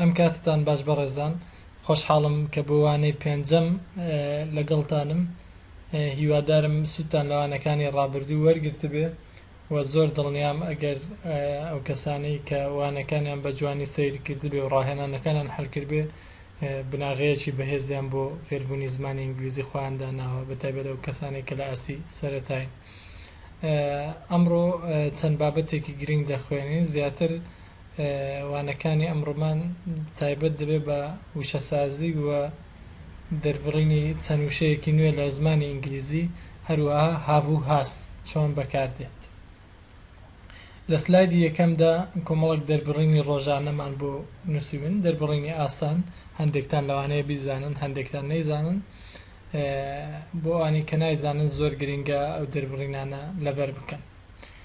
ئەم کاتتان باش بەڕێزان خۆشحاڵم کە بۆ وانەی پێنجەم لەگەڵتانم هیوادارم سوودتان لە وانەکانی ڕابردوو وەرگرتبێ و زۆر دڵنیام ئەگەر ئەو کەسانەی کە وانەکانیان بە جوانی سەیر کردبێ و ڕاهێنانەکانیان حەل کردبێ بناغەیەکی بەهێزیان بۆ فێربوونی زمانی ئینگلیزی خۆیان داناوە بە تایبەت ئەو کەسانەی کە لە ئاستی سەرەتاین ئەمڕۆ چەند بابەتێکی گرنگ دەخوێنین زیاتر وانەکانی ئەمڕۆمان تایبەت دەبێت بە وشەسازی و دەربڕینی چەند وشەیەکی نوێ لە زمانی ئینگلیزی، هەروەها have و has چۆن بەکاردێت. لە سلایدی یەکەمدا کۆمەڵێک دەربڕینی ڕۆژانەمان بۆ نووسیون، دەربڕینی ئاسان، هەندێکتان لەوانەیە بیزانن هەندێکتان نەیزانن، بۆ ئەوانەی کە نایزانن زۆر گرنگە ئەو دەربڕینانە لەبەر بکەن.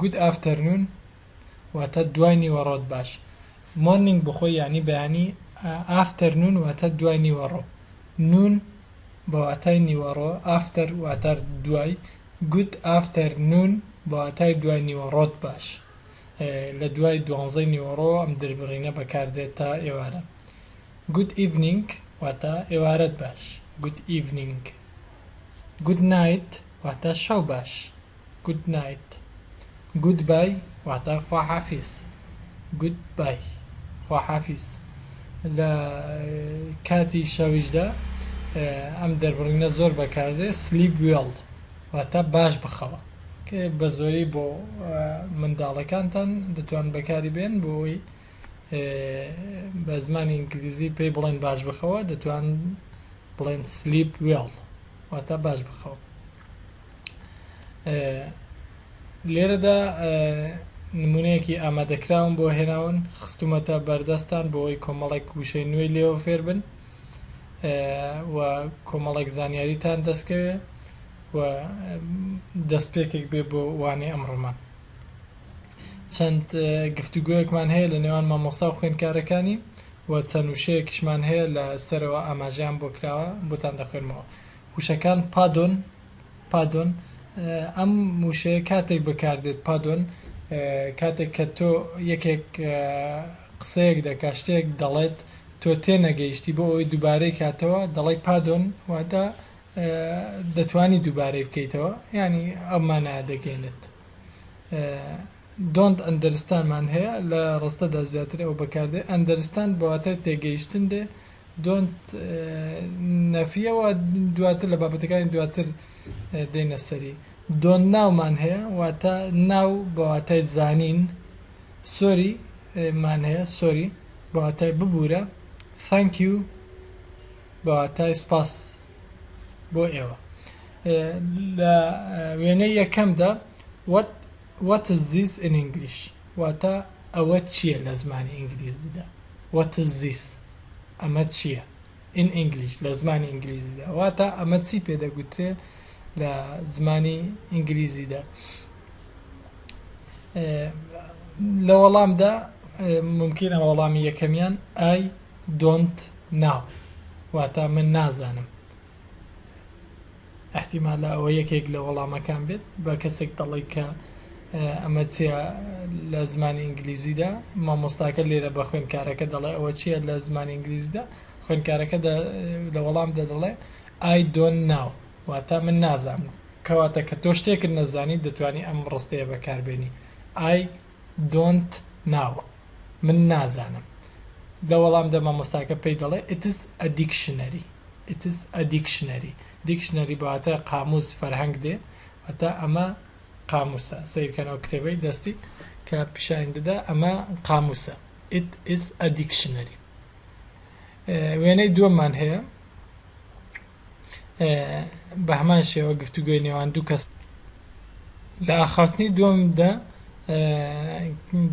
گود ئافتەرنون واتە دوای نیوەڕۆت باش مۆرنینگ بخۆی یانی بەیانی ئافتەرنون واتە دوای نیوەڕۆ نون بە واتای نیوەڕۆ ئافتەر واتە دوای گود ئافتەرنون بە واتای دوای نیوەڕۆت باش لە دوای دوانزەی نیوەڕۆ ئەم دربڕینە بەکاردێت تا ئێوارە گود ئیڤنینگ واتە ئێوارەت باش گود ئیڤنینگ Good night واتە شەو باش Good night Good bye واتە خواحافیز Good bye خواحافیز لە کاتی شەویشدا ئەم دەربڕینە زۆر بەکاردێ Sleep well واتە باش بخەوە کە بە زۆری بۆ منداڵەکانتان دەتوان بەکاری بێن بۆ ئەوەی بە زمانی ئینگلیزی پێی بڵێن باش بخەوە دەتوان بڵێن سلیپ وێڵ واتە باش بخەوە لێرەدا نمونەیەکی ئامادەکراون بۆ هێناون خستومەتە بەردەستان بۆی کۆمەڵێک وشەی نوێی لێوە فێربن و کۆمەڵێک زانیاریتان دەستکەوێ و دەستپێکێک بێ بۆ وانەی ئەمڕۆمان چەند گفتوگۆیەکمان هەیە لە نێوان مامۆستا و خوێندکارەکانی و چەند وشەیەکیشمان هەیە لە سەرەوە ئاماژەیان بۆ کراوە بۆتان دەخوێنمەوە وشەکان پادۆن پادۆن ئەم وشەیە کاتێک بەکاردێت پادۆن کاتێک کە تۆ یەکێک قسەیەک دەکا شتێک دەڵێت تۆ تێنەگەیشتی بۆ ئەوەی دووبارەی کاتەوە دەڵی پادۆن واتە دەتوانی دووبارەی بکەیتەوە ینی ئەمانە دەگەێنێت Don't understand مان هەیە لە ڕستەدا زیاتر ئەو بەکاردێ Understand بە واتای تێگەیشتن دێ Don't نەفیە و دواتر لە بابەتەکانی دواتر دێینە سەری Don't know مان هەیە واتە Know بە واتای زانین Sorry مان هەیە Sorry بە واتای ببورە Thank you بە واتای سوپاس. بۆ ئێوە لە وێنەی یەکەمدا what what is this in English واتە ئەوە چییە لە زمانی ئینگلیزیدا what is this ئەمە چییە in English لە زمانی ئینگلیزیدا واتە ئەمە چی پێ دەگوترێ لە زمانی ئینگلیزیدا لە وەڵامدا ممکنە وەڵامی یەکەمیان ئای Don't know واتا من نازانم ئەحتیمالە ئەوە یەکێک لە وەڵامەکان بێت بە کەسێک دەڵێی کە ئەمە چیە لە زمانی ئینگلیزیدا مامۆستاکە لێرە بە خوێندکارەکە دەڵێ ئەوە چیە لە زمانی ئینگلیزیدا خوێندکارەکە لە وەڵام دەدەڵێ I don't know واتا من نازانم کەواتە کە تۆ شتێکت نەزانی دەتوانی ئەم ڕستەیە بەکاربێنی I don't know من نازانم لە وەڵام دە مامۆستاکە پێی دەڵێ It's a dictionary It's a dictionary Dictionary بە واتای قامووس فەرهەنگ دێ واتە ئەمە قامووسە سەیرکەن ئەو کتێبەی دەستی کە پیشانی دەدا ئەمە قامووسە It is a dictionary وێنەی دووەممان هەیە بە هەمان شێوە گفتوگۆی نێوان دوو کەس لە ئاخاوتنی دووەمدا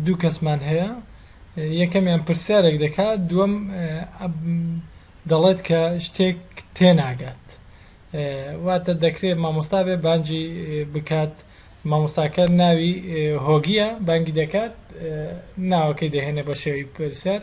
دوو کەسمان هەیە یەکەمیان پرسیارێک دەکات دووەم دەڵێت کە شتێک تێناگات واتە دەکرێت مامۆستا بێ بانجی بکات مامۆستاکە ناوی هۆگیە بانگی دەکات ناوەکەی دەهێنێ بە شێوی پرسیار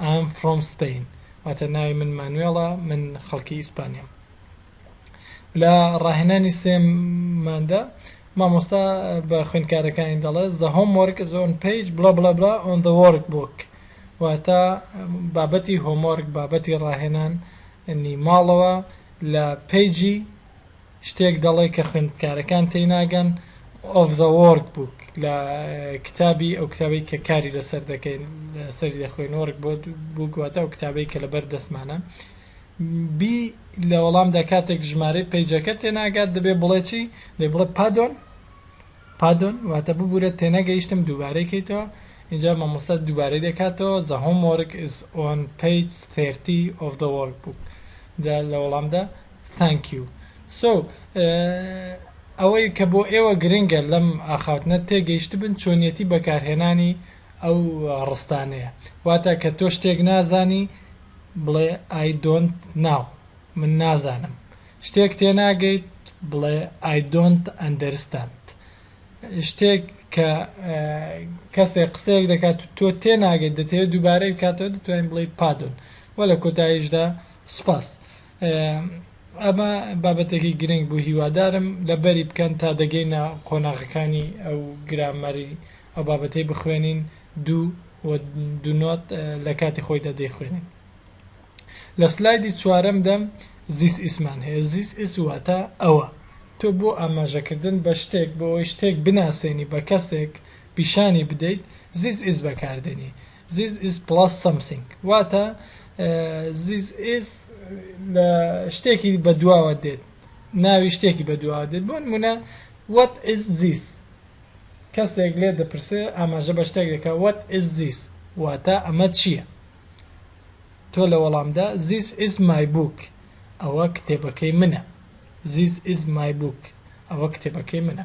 I'm from Spain واتە ناوی من مانوێڵە من خەڵکی ئیسپانیام لە ڕاهێنانی سێم ماندا مامۆستا بە خوێندکارەکانی دەڵێت the homework is on page بلا بلا بلا on the workbook واتە بابەتی هۆمۆرک بابەتی ڕاهێنان نی ماڵەوە لە پێجی شتێک دەڵێ کە خوێندکارەکان تێی ناگەن، of the work book، لە کتابی، ئەو کتابەی کە کاری لەسەر دەکەین، لەسەری دەخوێین، work book، واتە ئەو کتابەی کە لەبەر دەستمانە. بی لە وەڵامدا کاتێک ژمارەی پەیجەکە تێ ناگات دەبێ بڵێ چی؟ دەبێ بڵێ پادۆن، Pardon، واتە ببورە تێنەگەیشتم دووبارەی کەیتەوە، ئینجا مامۆستا دووبارەی دەکاتەوە، The homework is on page thirty of the work book، ئینجا لە وەڵامدا، Thank you so ئەوەی کە بۆ ئێوە گرنگە لەم ئاخاوتنە تێگەیشتبن چۆنیەتی بەکارهێنانی ئەو ڕستانەیە واتە کە تۆ شتێک نازانی بڵێ I don't now من نازانم شتێک تێناگەیت بڵێ I don't understand شتێک کە کەسێک قسەیەک دەکات تۆ تێناگەیت دەتەوێت دووبارەی بکاتەوە دەتوانین بڵێ پادۆن وە لە کۆتاییشدا سوپاس. ئەمە بابەتێکی گرنگ بوو هیوادارم لەبەری بکەن تا دەگەینە قۆناغەکانی ئەو گرامەری ئەو بابەتەی بخوێنین دوو و دوو نۆت لە کاتی خۆیدا دەیخوێنین لە سلایدی چوارەمدا زیس ئیسمان هەیە زیس ئیس واتە ئەوە تۆ بۆ ئاماژەکردن بە شتێک بۆ ئەوەی شتێک بناسێنی بە کەسێک پیشانی بدەیت زیس ئیس بەکاردێنی This is plus something واتە This is لە شتێکی بەدواوە دێت ناوی شتێکی بەدواوە دێت بۆ نمونە What is this کەسێک لێ دەپرسێ ئاماژە بە شتێک دەکا What is this واتە ئەمە چییە تۆ لە وەڵامدا This is my book ئەوە کتێبەکەی منە This is my book ئەوە کتێبەکەی منە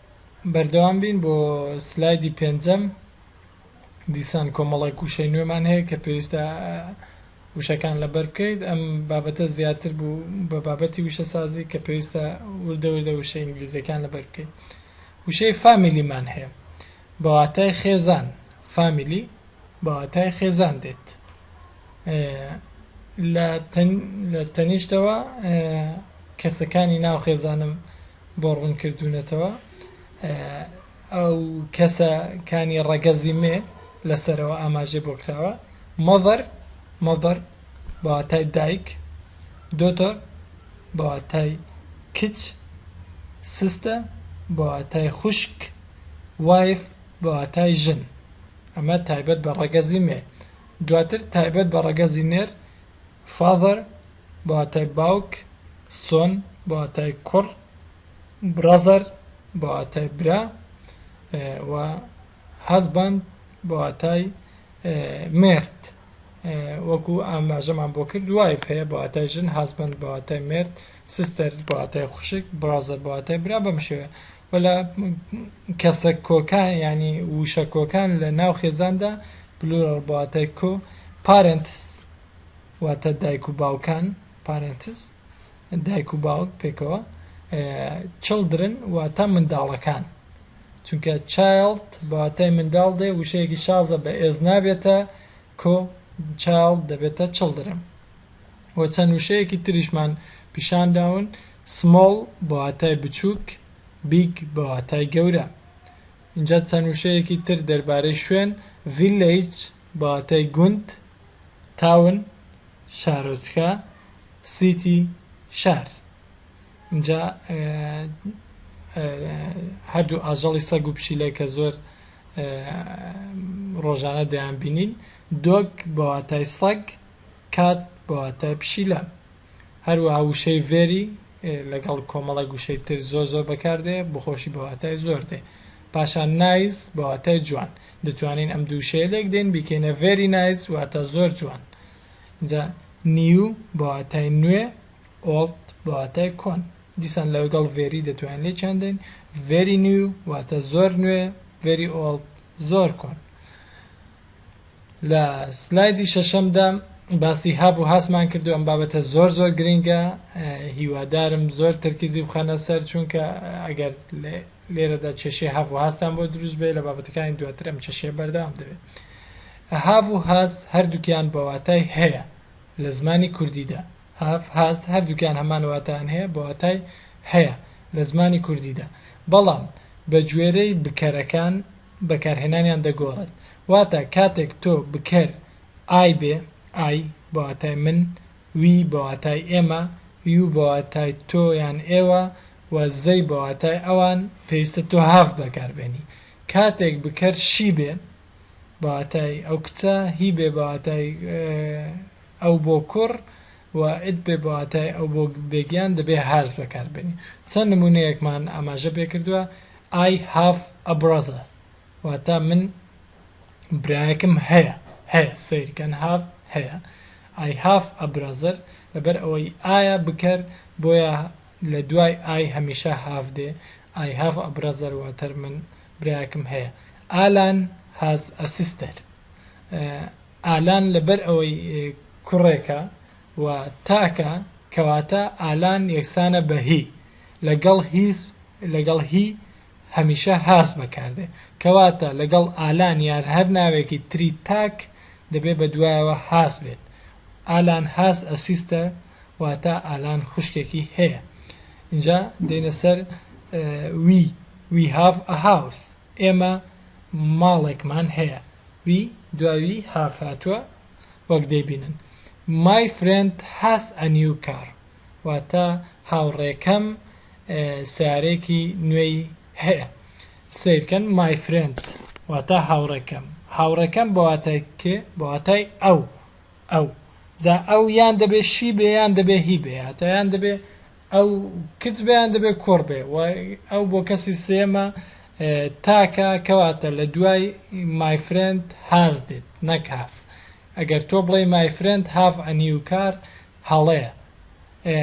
بەردەوام بین بۆ سلایدی پێنجەم دیسان کۆمەڵێک وشەی نوێمان هەیە کە پێویستە وشەکان لەبەر بکەیت ئەم بابەتە زیاتر بوو بە بابەتی وشەسازی کە پێویستە وردە وردە وشە ئینگلیزیەکان لەبەر بکەیت وشەی فامیلیمان هەیە بەواتای خێزان فامیلی بەواتای خێزان دێت لە تەنیشتەوە کەسەکانی ناو خێزانم بۆ ڕوون کردوونەتەوە ئەو کەسە کانی ڕەگەزی مێ لەسەرەوە ئاماژێ بۆ کراوە مەڤەر مەڤەر بەواتای دایک دۆتۆر بەواتای کچ سستە بەواتای خوشک وایف بەواتای ژن ئەمە تایبەت بە ڕەگەزی مێ. دواتر تایبەت بە ڕەگەزی نێر، Father، بە واتای باوک، Son، بە واتای کوڕ، Brother، بە واتای برا، و Husband، بە واتای مێرد. وەکو ئاماژەمان بۆ کرد Wife هەیە بە واتای ژن، Husband، بە واتای مێرد، Sister، بە واتای خوشک، Brother، بە واتای برا بەم شێوەیە. وەلا کەسە کۆکان یانی ووشە کۆکان لە ناو خێزاندا، Plural، بە واتای کۆ، Parents، واتە دایک و باوکان، Parents، دایک و باوک پێکەوە، Children، واتە منداڵەکان، چونکە Child بە واتای منداڵ دێ ووشەیەکی شازە بە ئێز نابێتە کۆ، Child، دەبێتە Children. و چەند وشەیەکی تریشمان پیشان داون، Small بە واتای بچووک، Big بە واتای گەورە. ئینجا چەند وشەیەکی تر دەربارەی شوێن، Village بە واتای گوند، Town شارۆچکە، City شار. ئینجا هەردوو ئاژەڵی سەگ و پشیلە کە زۆر ڕۆژانە دەیانبینین، Dog بە واتای سەگ، کات بە واتای پشیلە. هەروەها وشەی very لەگەڵ کۆمەڵێک وشەی تر زۆر زۆر بەکار دێ، بخۆشی بە واتای زۆر دێ. پاشان nice بە واتای جوان. دەتوانین ئەم دوو وشەیە لێک دەین بیکەینە very nice واتە زۆر جوان. جا new بە واتای نوێ، old بە واتای کۆن. دیسان لەگەڵ very دەتوانین لێکیان دەین. very new واتە زۆر نوێ، very old زۆر کۆن. لە سلایدی شەشەمدا باسی هاڤ و هاسمان کردو ئەم بابەتە زۆر زۆر گرنگە هیوادارم زۆر تەرکیزی بخەنە سەر چونکە ئەگەر لێرەدا کێشەی هاڤ و هاستان بۆ دروست بێ لە بابەتەکانی دواتر ئەم کێشەیە بەردەوام دەبێت هاڤ و هاست هەردووکیان بە واتای هەیە لە زمانی کوردیدا هاف هاست هەردووکیان هەمان واتان هەیە بە واتای هەیە لە زمانی کوردیدا بەڵام بە گوێرەی بکەرەکان بەکارهێنانیان دەگۆڕێت واتە کاتێک تۆ بکەر ئای بێ، I، بە واتای من، We، بە واتای ئێمە، You، بە واتای تۆ یان ئێوە، و They، بە واتای ئەوان، پێویستە تۆ Have بەکاربێنی. کاتێک بکەر شی بێ، بە واتای ئەو کچە، هی بێ، بە واتای ئەو بۆ کوڕ، و It، بێ، بە واتای ئەو بۆ بێگیان، دەبێ Has بەکاربێنی. چەند نموونەیەکمان ئاماژە پێکردووە، I have a brother واتە من برایەکم هەیە هەیە سەیر کەن have هەیە I have a brother لەبەر ئەوەی ئایا بکەر بۆیە لە دوای I هەمیشە have دێ I have a brother واتە من برایەکم هەیە Alan has a sister ئالان لەبەر ئەوەی کوڕێکە و تاکە کەواتە ئالان یەکسانە بە he لە گەڵ هیز لە گەڵ هی هەمیشە هاز بەکار دێ کەواتە لە گەڵ ئالان یار هەر ناوێکی تری تاک دەبێ بە دوایەوە هاز بێت ئالان هاز ئە سیستە واتا ئالان خوشکێکی هەیە ئینجا دێینە سەر وی وی هاڤ ئە هاوس ئێمە ماڵێکمان هەیە وی دوای وی هاڤ هاتووە وەک دەیبینن مای فرێند هاز ئە نیو کار واتە هاوڕێکەم سەیارەیەکی نوێی هەیە سەیرکەن my friend واتە هاوڕێکەم هاوڕێکەم بە واتای کێ بە واتای ئەو ئەو جا ئەو یان دەبێ شی بێ یان دەبێ هی بێ هاتە یان دەبێ ئەو کچ بێ یان دەبێ کوڕ بێ و ئەو بۆ کەسی سێمە تاکە کەواتە لە دوای my friend هاز دێت نەک هاف ئەگەر تۆ بڵێ my friend have a new car هەڵەیە. ئێ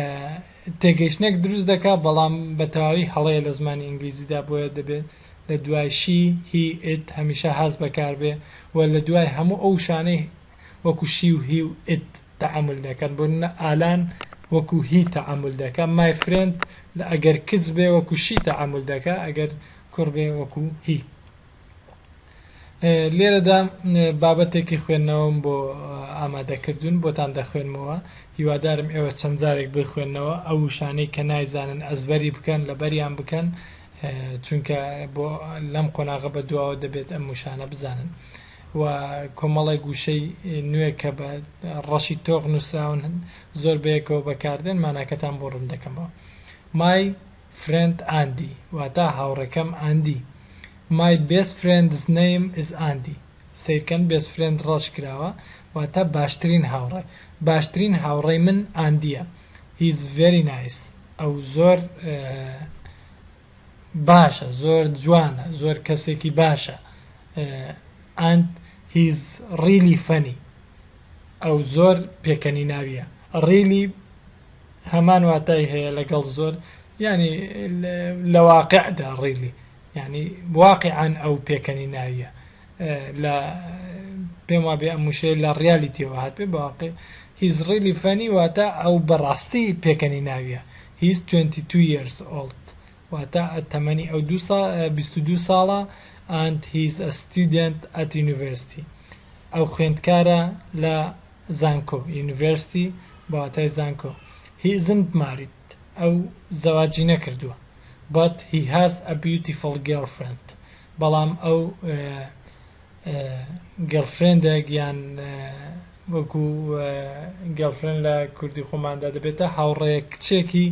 تێگەیشتنێک دروست دەکا بەڵام بە تەواوی هەڵەیە لە زمانی ئینگلیزیدا بۆیە دەبێت لە دوای شی، هی، ئیت هەمیشە هاز بەکار بێ و لە دوای هەموو ئەو وشانەی وەکوو شی و هی و ئیت تەعامول دەکەن بۆ نموونە ئالان وەکوو هی تەعامول دەکا مای فرێند ئەگەر کچ بێ وەکوو شی تەعامول دەکا ئەگەر کوڕ بێ وەکوو هی. لێرەدا بابەتێکی خوێندنەوەم بۆ ئامادەکردوون بۆتان دەخوێنمەوە هیوادارم ئێوە چەند جارێک بخوێندنەوە ئەو وشانەی کە نایزانن ئەزبەری بکەن لەبەریان بکەن چونکە بۆ لەم قۆناغە بە دواوە دەبێت ئەم وشانە بزانن و کۆمەڵێک گوشەی نوێ کە بە ڕەشی تۆغ نووسراون زۆر بەیەکەوە بەکاردێن ماناکەتان بۆ ڕوون دەکەمەوە مای فرێند ئاندی واتا هاوڕێکەم ئاندی مای بێست فرێندس نەیم ئیز ئاندی سەیرکەن بێست فرێند ڕەش کراوە واتا باشترین هاوڕێ باشترین هاوڕێی من ئاندیە هیز ڤێری نایس ئەو زۆر باشە زۆر جوانە زۆر کەسێکی باشە ئاند هیز ڕیلی فەنی ئەو زۆر پێکەنیناویە ڕیلی هەمان واتای هەیە لەگەڵ زۆر یانی لە واقیعدا ڕیلی یانی واقیعەن ئەو پێکەنیناویە لە پێم وابێ ئەم وشەیە لە ڕیالیتیەوە هاتبێ بە واقیع He's really funny واتە ئەو بەڕاستی پێکەنیناویە He's 22 years old واتە تەمەنی ئەو دوو سا بیست و دوو ساڵە and he's a student at university ئەو خوێندکارە لە زانکۆ، University، بە واتای زانکۆ، He isn't married، ئەو زەواجی نەکردووە، But he has a beautiful girlfriend، بەڵام ئەو گێڵفرێندێک یان وەکو گێڵفرێند لە کوردی خۆماندا دەبێتە هاوڕێیەک کچێکی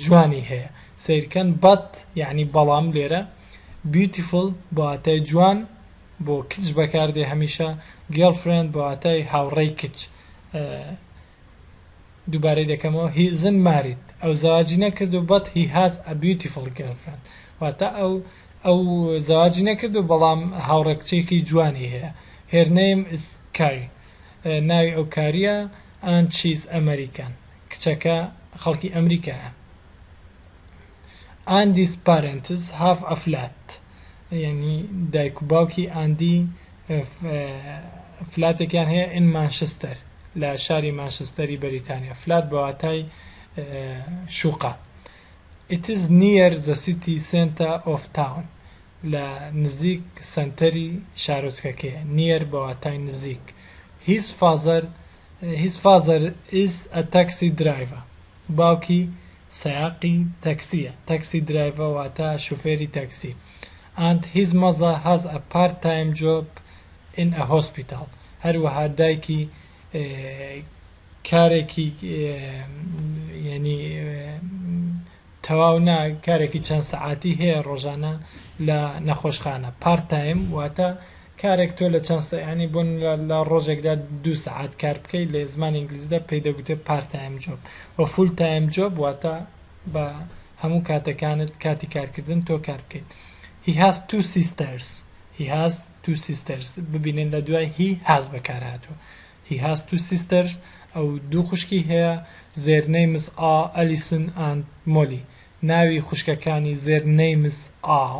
جوانی هەیە. سەیرکەن But یانی بەڵام لێرە Beautiful بە واتای جوان بۆ کچ بەکار دێ هەمیشە گێڵ فرێند بە واتای هاوڕێی کچ ئە دووبارەی دەکەمەوە هی ئزن ماریت ئەو زەواجی نەکرد و بەت هی هاز ئە بیوتیفڵ گێڵ فرێند واتە ئەو ئەو زەواجی نەکرد و بەڵام هاوڕێ کچێکی جوانی هەیە هێر نەیم ئز کای ناوی ئەو کاریە ئان چیز ئەمەریکان کچەکە خەڵکی ئەمریکایە. ئاندیس پارێنتس هاف ئە فلات یانی دایک و باوکی ئاندی فلاتێکیان هەیە ئین مانشستەر لە شاری مانشستەری بەریتانیا فلات بە واتای شوقە It is near the city center of town لە نزیک سەنتەری شارۆچکەکەیە near بە واتای نزیک His father His father is a taxi driver باوکی سایەقی تەکسییە، Taxi Driver، واتە شوفێری تەکسی، and his mother has a part-time job in a hospital، هەروەها دایکی کارێکی یەنی تەواو نا کارێکی چەند سەعاتی هەیە ڕۆژانە لە نەخۆشخانە، Part-time، واتە کارێک تۆ لە چەند سە یانی بۆ نمونە لە ڕۆژێکدا دوو سەعات کار بکەی لە زمانی ئینگلیزیدا پێی دەگوترێ پارت تایم جۆب وە فول تایم جۆب واتە بە هەموو کاتەکانت کاتی کارکردن تۆ کار بکەیت He has two sisters He has two sisters ببینن لە دوای he has بەکار هاتووە He has two sisters ئەو دوو خوشکی هەیە Their names are Alison and Molly ناوی خوشکەکانی Their names are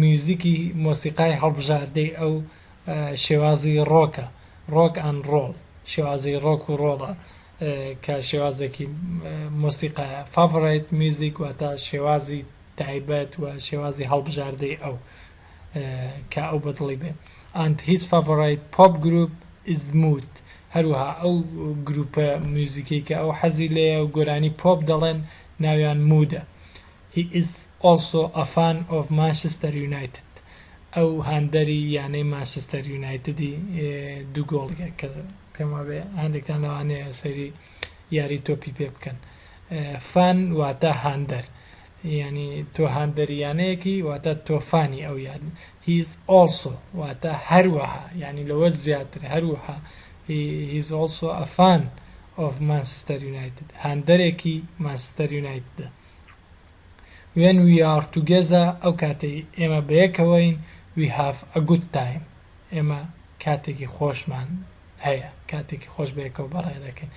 میوزیکی مۆسیقای هەڵبژاردەی ئەو شێوازی ڕۆکە، ڕۆک ئەند ڕۆڵ، شێوازی ڕۆک و ڕۆڵە کە شێوازێکی مۆسیقایە، Favorite Music، واتە شێوازی تایبەت و شێوازی هەڵبژاردەی ئەو کە ئەو بەدڵی بێ And his favorite pop group is Moot هەروەها ئەو گروپە میوزیکەی کە ئەو حەزی لێیە و گۆرانی پۆپ دەڵێن ناویان مودە. He is also a fan of Manchester United ئەو هاندەری یانەی مانچستەر یونایتدی دوو گۆڵیە کە پێم وابێ هەندێکتان لەوانەیە سەیری یاری تۆپی پێ بکەن فان واتە هاندەر یعنی تۆ هاندەری یانەیەکی واتە تۆ فانی ئەو یان He is also واتە هەروەها یعنی لەوە زیاتر هەروەها He is also a fan of Manchester United هاندەرێکی مانچستەر یونایتدە When we are together ئەو کاتەی ئێمە بەیەکەوەین We have a good time ئێمە کاتێکی خۆشمان هەیە کاتێکی خۆش بەیەکەوە بەڕێ دەکەین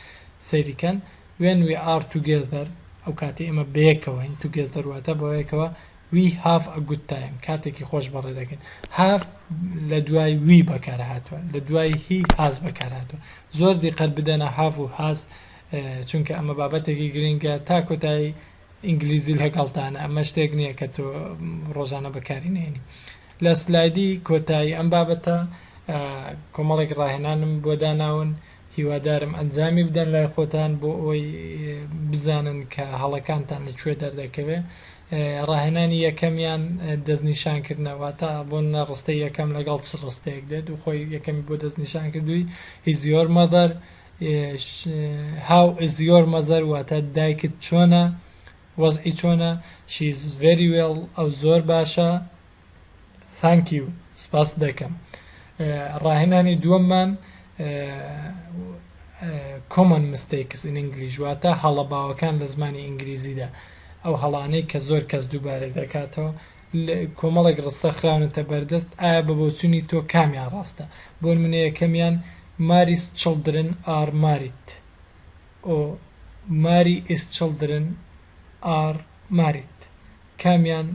سەیری کەن When we are together ئەو کاتەی ئێمە بەیەکەوەین Together واتە بەیەکەوە We have a good time کاتێکی خۆش بەڕێ دەکەین Have لە دوای we بەکارهاتووە لە دوای he has بەکارهاتووە زۆر دیقەت بدەنە have و has چونکە ئەمە بابەتێکی گرنگە تا کۆتایی ئینگلیزی لەگەڵتانە ئەمە شتێک نییە کە تۆ ڕۆژانە بەکاری نێنی لە سلایدی کۆتایی ئەم بابەتە کۆمەڵێک ڕاهێنانم بۆ داناون هیوادارم ئەنجامی بدەن لای خۆتان بۆ ئەوەی بزانن کە هەڵەکانتان لە کوێ دەردەکەوێت ڕاهێنانی یەکەمیان دەستنیشان کردنەوە تا بۆ نەڕستە یەکەم لەگەڵ چ ڕستەیەک دێت و خۆی یەکەمی بۆ دەستنیشان کردووی هیزیۆر مەدەر ش How is your mother واتە دایکت چۆنە؟ وەزعی چۆنە؟ She is very well ئەو زۆر باشە Thank you سپاست دەکەم ڕاهێنانی دووەممان Common mistakes in English واتە هەڵە باوەکان لە زمانی ئینگلیزیدا ئەو هەڵانەی کە زۆر کەس دووبارەی دەکاتەوە کۆمەڵێک ڕستە خراونەتە بەردەست، ئایا بە بۆچونی تۆ کامیان ڕاستە؟ بۆ نمونە یەکەمیان، Mary's children are married و Mary's children are married کامیان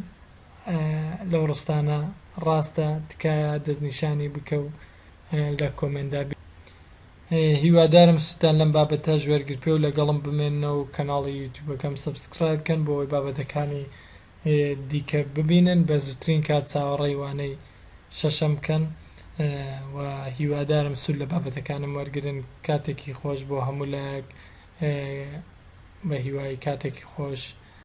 لەو ڕستانە ڕاستە تکایە دەستنیشانی بکە و لە کۆمێندا بنووسە. هیوادارم سودتان لەم بابەتەش وەرگرتبێ و لەگەڵم بمێننەوە و کەناڵی یوتیوبەکەم سەبسکرایب کەن بۆ ئەوەی بابەتەکانی دیکە ببینن بە زوترین کات چاوەڕێی وانەی شەشەم بکەن و هیوادارم سود لە بابەتەکانم وەرگرن کاتێکی خۆش بۆ هەموو لایەک بە هیوای کاتێکی خۆش.